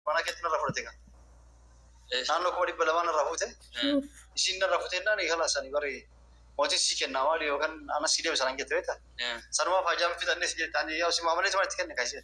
Mana keetti narra fudhate kan. Naannoo kuma dhibba lamaa narra fuute. Ishiin narra fuute innaan eegala sanii bari mootiin sii kennaa maali yookaan anas sii deebisa nan jette beekta. Sanumaa faajaan fixannee si jette ani yaa si maamalee si manatti kenne kan ishee.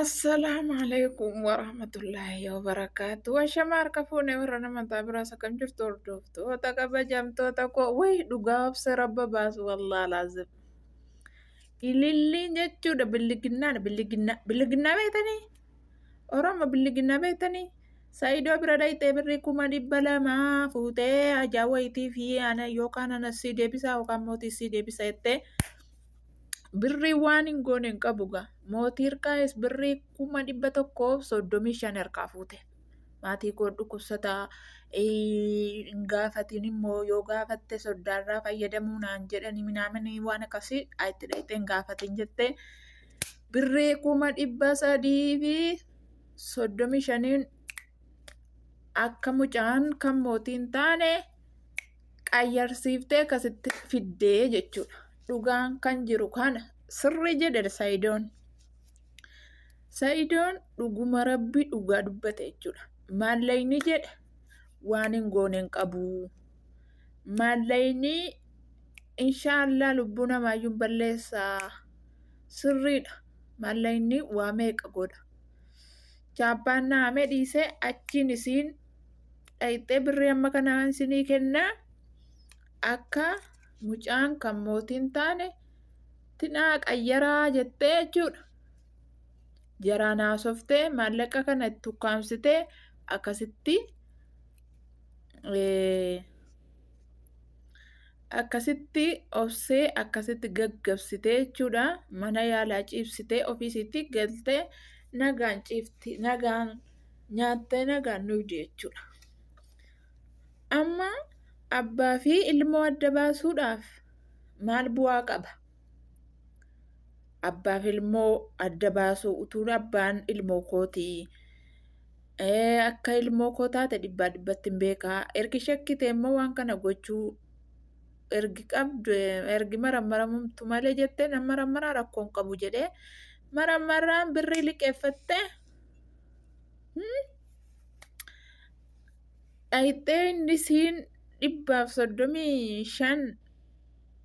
Assalaamu alaikum warahmatullaahi wabarakaatu. Washama harka fuune warra nama taa biraas akkam jirtu hordoftoota kabajamtoota koo wayi dhugaa obsa rabba baasu wallaa laazim. Ililliin jechuudha billiginnaan billiginnaa billiginnaa beektanii Oromoo billiginnaa beektanii Saayidoo bira dhayxee birrii kuma dhibba lamaa fuutee ajaa wayitii fi ana yookaan ana sii deebisaa yookaan mootii sii deebisa jettee birrii waan hin goone hin qabu gaa mootii hirkaayis birrii kuma dhibba tokkoof soddomii shan harkaa fuute maatii koo dhukkubsataa hin gaafatiin immoo yoo gaafatte soddaarraa fayyadamuu naan jedhanii minaamanii waan akkasii itti dhaqxee hin gaafatiin jettee birrii kuma dhibba sadii fi soddomii shaniin akka mucaan kan mootiin taane qayyarsiiftee akkasitti fiddee jechuudha. Dhugaan kan jiru kana sirrii jedhe Sayidoon. Sayidoon dhuguma rabbi dhugaa dubbate jechuudha. Maallayni jedhe waan hin goone hin qabu. Maallayni inshaallah lubbuu namaayyuu balleessaa sirriidha. Maallayni waa meeqa godha. Chaappaan naamee dhiisee achiin isiin dhayxee birrii amma kanaan isinii kennaa akka mucaan kan mootiin taane tinaa qayyaraa jettee jechuudha. Jaraan haasoftee maallaqa kana itti ukkaamsitee akkasitti akkasitti obsee akkasitti gaggabsitee jechuudha. Mana yaalaa ciibsitee ofiisiitti galtee nagaan ciifti nagaan. nyaattee nagaan nuuf jechuudha. Amma abbaa fi ilmoo adda baasuudhaaf maal bu'aa qaba? Abbaa fi ilmoo adda baasuu utuu abbaan ilmoo kootii akka ilmoo koo taate dhibbaa dhibbatti hin beekaa ergi shakkite immoo waan kana gochuu ergi qabdu ergi marammaramtu malee jettee nan marammaraa rakkoon qabu jedhee marammaraan birrii liqeeffattee dhayxee inni isiin dhibbaaf soddomii shan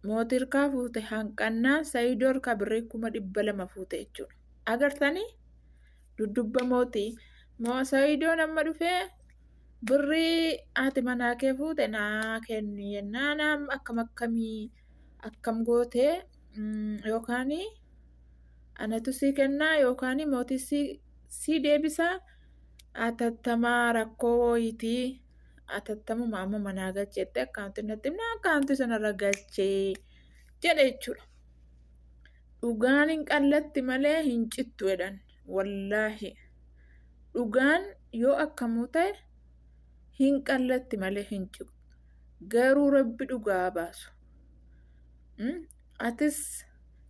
mootirkaa fuute hanqannaa sayidoor kabiree kuma dhibba lama fuute jechuudha. Agartanii duddubba mootii sayidoon amma dhufee birrii haati manaa kee fuute naa kenni jennaan akkam akkamii akkam gootee yookaan Anatu sii kennaa yookaan mootii sii, sii deebisaa atattamaa rakkoo wooyitii atattamuma amma manaa galcheetti akkaawuntii natti himna akkaawuntii sanarra galchee jedhe jechuudha. Dhugaan hin qallatti malee hin cittu jedhan wallaahi. Dhugaan yoo akkamuu ta'e hin qallatti malee hin cittu. Garuu rabbi dhugaa baasu. Atis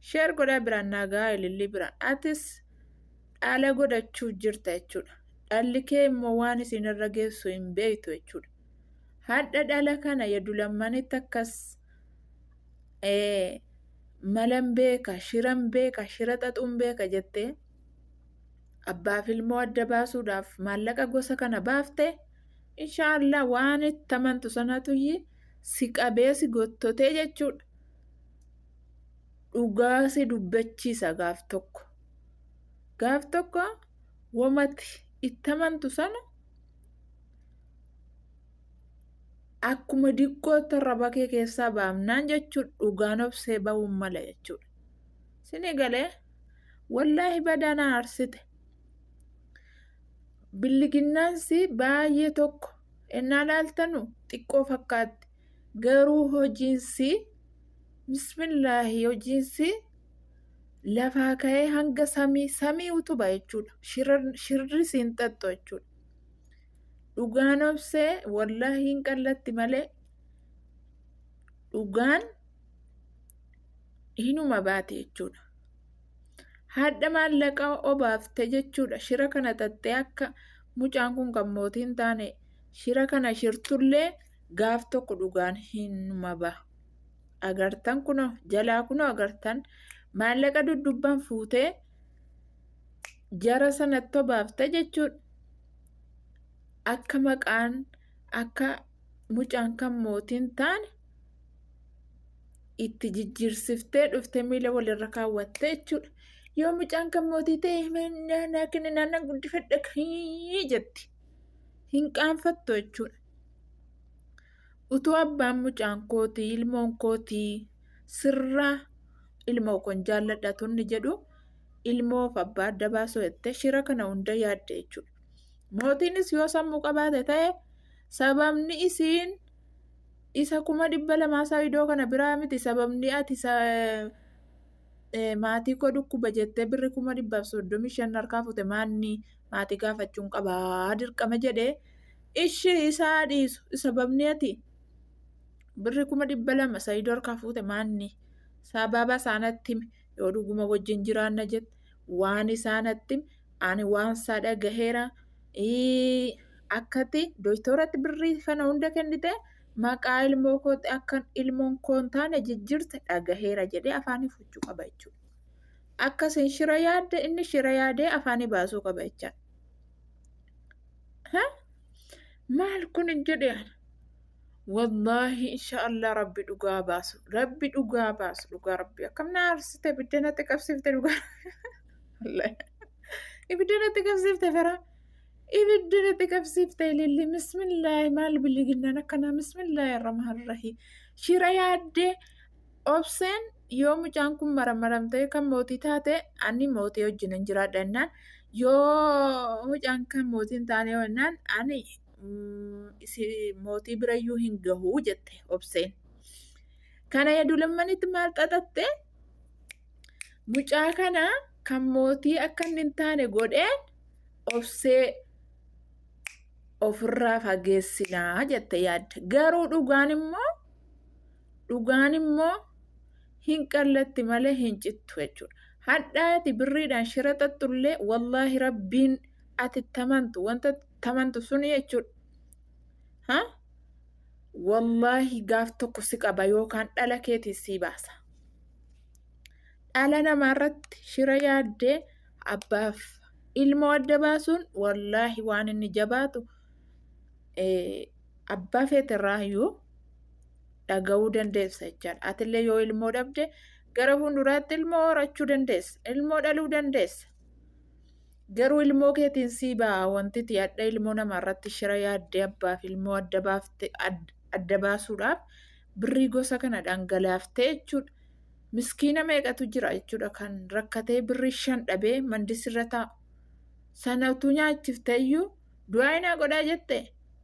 share godhaa biraan naa gahaa ilillii biraan. Atis dhaala godhachuuf jirta jechuudha. Dhalli kee immoo waan isinirra geessu hin beektu jechuudha. Hadha dhala kana yadu lammanitti akkas ee, malan beeka, shiran beeka, shira xaxuun beeka jettee abbaaf ilmoo adda baasuudhaaf maallaqa gosa kana baafte inshaallah waan itti amantu sanatu iyyii si qabee si gottotee jechuudha. Dhugaa si dubbachiisa gaaf tokko. Gaaf tokko womati itti amantu sana akkuma diqqootti irra bakee keessaa baamnaan jechuudha dhugaan obsee ba'uun mala jechuudha. Sini galee wallaahi badaa na aarsite. billiginnaansi baay'ee tokko ennaa laaltanu xiqqoo fakkaatti garuu hojiinsi bismillaahi hojiinsi lafaa ka'ee hanga samii samii utuba jechuudha shirri siin xaxxu jechuudha dhugaan obsee wallaahi hin qallatti malee dhugaan hinuma baate jechuudha. Haadha maallaqa obaafte jechuudha. Shira kana xaxxee akka mucaan kun kan mootii hin taane shira kana shirtullee gaaf tokko dhugaan hin maba. Agartan kunoo jalaa kunoo agartan maallaqa duddubbaan fuutee jara sanatti obaafte jechuudha. Akka maqaan akka mucaan kan mootiin taane itti jijjiirsiftee dhufte miila walirra kaawwatte jechuudha. Yoo mucaan kan mootii ta'e naa kenni naannan guddifadha jetti. Hin qaanfattu jechuudha. Utuu abbaan mucaan kootii ilmoon kootii sirraa ilmoo kun jaalladha tunni jedhu ilmoof abbaa adda baasuu jettee shira kana hunda yaadde jechuudha. Mootiinis yoo sammuu qabaate ta'e sababni isiin isa kuma dhibba lamaa isaa idoo kana biraa miti sababni ati maatii koo dhukkuba jettee birri kuma dhibbaaf soddomii shan harkaa fute maanni maatii gaafachuun qabaa dirqama jedhee ishi isaa dhiisu sababni ati birri kuma dhibba lama isa idoo harkaa fuute maanni sababa isaanatti himi yoo dhuguma wajjin jiraanna jette waan isaa natti himi, ani waan isaa dhagaheera ii, akkati doktoratti birrii kana hunda kennite maqaa ilmoo kootti akkan ilmoon koo hin taane jijjiirte dhagaheera jedhee afaanii fuchuu qaba jechuudha. Akka isin shira yaadde inni shira yaadee afaanii baasuu qaba jechaadha. Ha? Maal kun hin jedhe ana. Wallaahi inshaallah rabbi dhugaa baasu rabbi dhugaa baasu dhugaa rabbi akkam na aarsite ibidda natti qabsiifte dhugaa Wallaahi. ibidda natti qabsiifte fira ibidda natti qabsiifte ililli bismillaahi maal biliginnaan akkanaa bismillaahi arrahmaan arrahiim shira yaaddee obseen yoo mucaan kun maramaramtee kan mootii taate ani mootii wajjin hin jiraadha jennaan yoo mucaan kan mootii hin taane jennaan ani mootii birayyuu hin gahu jette obseen. Kana yadulamanitti maal xaxatte mucaa kana kan mootii akka inni hin taane godheen obsee ofirraa fageessinaa jette yaadde. Garuu dhugaan immoo dhugaan immoo hin qallatti malee hin cittu jechuudha. Hadhaati birriidhaan shira xaxxullee wallaahi rabbiin ati tamantu wanta tamantu suni jechuudha. Ha? Wallaahi gaaf tokko si qaba yookaan dhala keetiin sii baasa. Dhala namaa irratti shira yaaddee abbaaf ilmoo adda baasuun wallaahi waan inni jabaatu abbaa feeterraa iyyuu dhaga'uu dandeessa jechaadha. Atillee yoo ilmoo dhabde gara fuulduraatti ilmoo horachuu dandeessa. Ilmoo dhaluu dandeessa. Garuu ilmoo keetiin sii ba'aa wantiti adha ilmoo namaa irratti shira yaaddee abbaaf ilmoo adda baafte ad- adda baasuudhaaf birrii gosa kana dhangalaaftee jechuudha. Miskiina meeqatu jira jechuudha kan rakkatee birrii shan dhabee mandis irra taa'u. Sana utuu nyaachiftee iyyuu du'aa inaa godhaa jette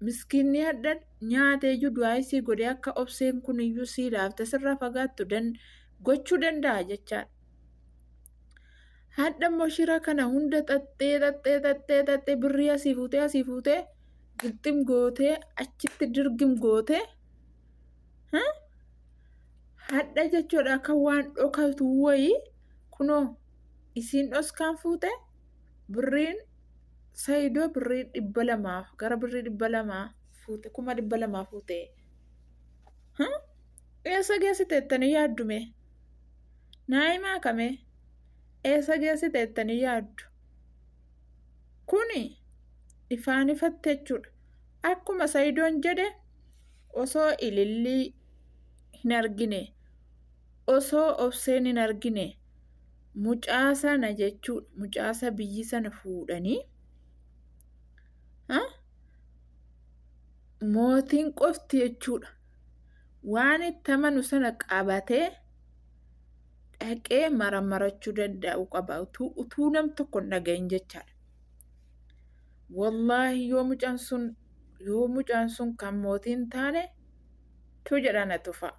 miskiinni hadha nyaatee iyyuu du'aa isii godhee akka obseen kun iyyuu sii laafte sirraa fagaattu dan- gochuu danda'a jechaadha. Hadha immoo shira kana hunda xaxxee xaxxee xaxxee xaxxee birrii asii fuutee asii fuutee gixxim gootee achitti dirgim gootee hadha jechuudha akka waan dhokatu wayii kunoo isiin dhoskaan fuute birriin sayidoo birrii dhibba lamaa gara birrii dhibba lamaa fuute kuma dhibba lamaa fuute eessa geessiteettanii yaaddume naayimaa kamee. eessa geessite jettanii yaaddu? Kuni ifaan ifatti jechuudha. Akkuma Sayidoon jedhe osoo ilillii hin argine, osoo obseen hin argine, mucaa sana jechuudha. Mucaa isa biyyi sana fuudhanii mootiin qofti jechuudha. Waan itti amanu sana qabatee. dhaqee maramarachuu danda'u qaba utuu utuu nam tokko hin dhagahin jechaadha. Wallaahi yoo mucaan sun yoo mucaan sun kan mootii hin taane tuu jedhaa na tufaa.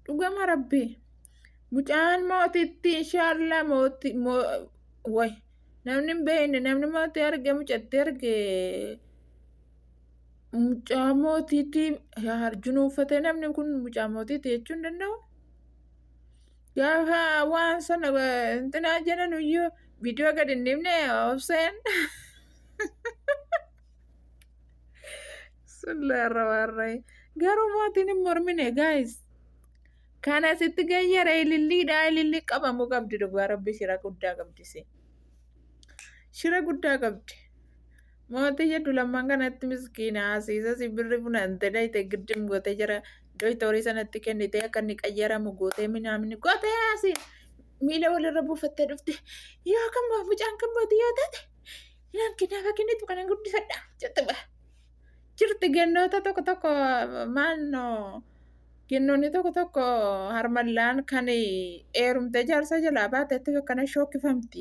Dhugama rabbii mucaan mootitti inshaallah mootii moo way namni hin beekne namni mootii arge mucatti arge Mucaa mootiitti harjuun uffate namni kun mucaa mootiitti jechuu hin danda'u. Gaafa waan sana intinaa jedhan iyyuu viidiyoo gad hin dhibne obseen. Sullaarra waarree. Garuu mootiin hin mormine gaayis. Kana sitti gayyara ililliidha ililli qabamuu qabdi dhugaa rabbi shira guddaa qabdi si. Shira guddaa qabdi. Mootii jedhu lamman kanatti miskiina Asiisas birri funante dhayxe giddim gote jara doytorii sanatti kennite akka inni qayyaramu gote minaamin gote Asiin miila walirra buufattee dhufte yoo kan boo mucaan kan bootii yoo taate inaan kinaaf akinitu kanan guddifadha jette ba jirti gennoota tokko tokko maannoo gennoonni tokko tokko harmallaan kan eerumte jaarsa jalaa baatetti akkana shookkifamti.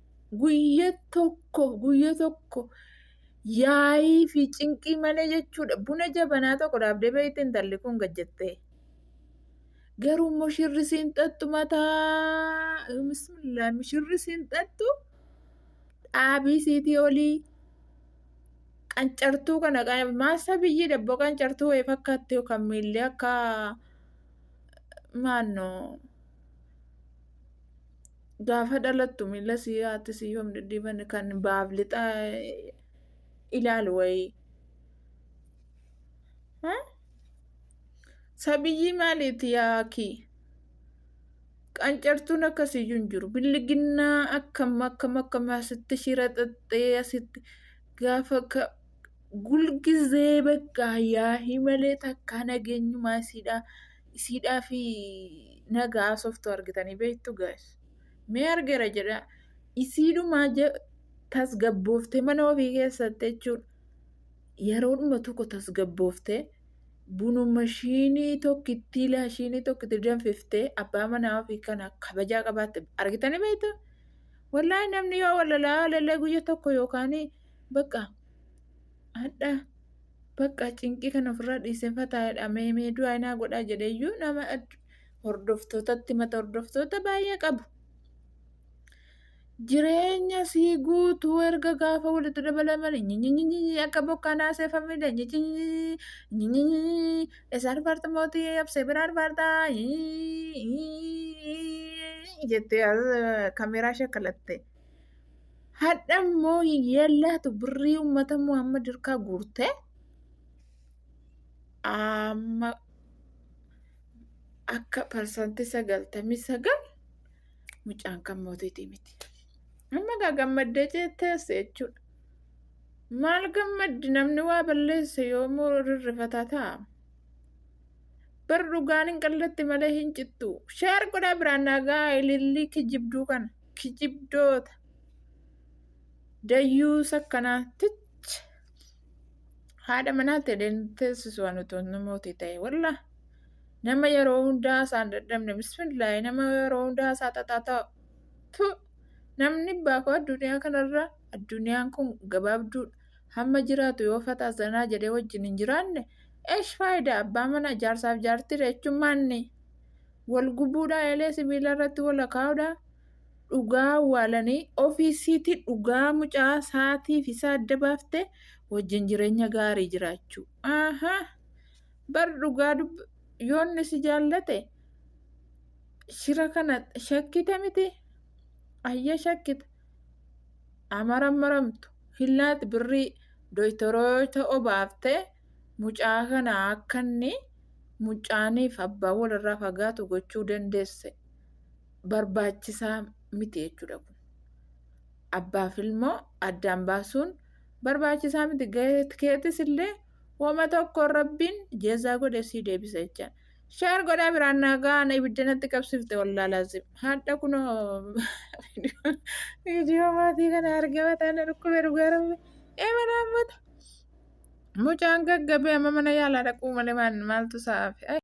guyya tokko guyya tokko yaa'ii fi cinqii malee jechuudha buna jabanaa tokko dhaabdee beekte intalli kun gad jettee garuu immoo shirri siin xaxxu mataa bismillah shirri siin xaxxu dhaabii siitii olii qancartuu kana qan- maasa biyyii dabboo qancartuu wayii fakkaatti yookaan miilli akka maannoo Gaafa dhalattu miila sii haati sii yoom dhidhiiban kan baaf lixa ilaalu wayii. Sabiyyii maaliiti yaakii? Qancartuun akkasiyyuu hin jiru. Billiginnaa akkam akkam akkam asitti shira xaxxee asitti gaafa ka gulgizee bakka yaahii malee takkaa nageenyumaa isiidhaa. isiidhaa fi naga haasoftu argitanii beektu gaas mee argera jedha isiidhumaa tasgabbooftee mana ofii keessatti jechuudha yeroodhuma tokko tasgabbooftee bunu mashiinii tokkittii laashiinii tokkitti danfiftee abbaa manaa ofii kana kabajaa qabaatte argitanii beektu wallaahi namni yoo walalaa lalee guyya tokko yookaan bakka hadha bakka cinqii kan ofirraa dhiisee fataadha mee mee du'aa inaa godhaa jedheeyyuu nama hordoftootatti mata hordoftoota baay'ee qabu. Jireenya sii guutuu erga gaafa walitti dabalamani nyinyinyi akka bokkaa naasee famile nyinyinyi nyinyinyi isa arfaarta mootii absee bira arfaarta jettee kameeraa shakkalattee. Hadha immoo hiyyeen laatu birrii uummata Muhammad harkaa guurtee amma akka parsantii sagaltamii sagal mucaan kan mootiitii miti. Amma gaa gammaddee teesse jechuudha. Maal gammaddi namni waa balleesse yoomuu rirrifataa ta'a. Bar dhugaan hin qallatti malee hin cittu. Sheer godhaa biraan naagaa ilillii kijibduu kana. kijibdoota dayyuusa akkanaa tich haadha manaa ta'een teessisu waan otoo namooti ta'e walla nama yeroo hundaa isaan dadhabne bismillaahi nama yeroo hundaa isaa xaxaa ta'u tu namni baakoo addunyaa kanarra addunyaan kun gabaabduudha hamma jiraatu yoo fataa zanaa jedhee wajjin hin jiraanne eesh faayidaa abbaa mana jaarsaaf jaartii jechuun maanni wal gubuudhaa eelee sibiila irratti wal akaa'uudhaa dhugaa awwaalanii ofiisiitii dhugaa mucaa saatii fi isaa adda baafte wajjin jireenya gaarii jiraachuu. Aha! Bar dhugaa dub yoonni si jaallate shira kana shakkite miti ayya shakkite amaran maramtu hillaat birrii doytoroota obaaftee mucaa kana akka inni mucaaniif abbaan walirraa fagaatu gochuu dandeesse barbaachisaa miti jechuudha kun. Abbaaf ilmoo addaan baasuun barbaachisaa miti gahee keetis illee wama tokko rabbiin jezaa godhe sii deebisa jecha. Sheer godhaa biraan naa gahaan ibidda natti qabsifte wallaa laazim. Hadha kunoo viidiyoo maatii kana argama taana dhukkube dhugaa rabbi. Ee manaa ammata. Mucaan gaggabee amma mana yaalaa dhaquu malee maaltu sa'aafi?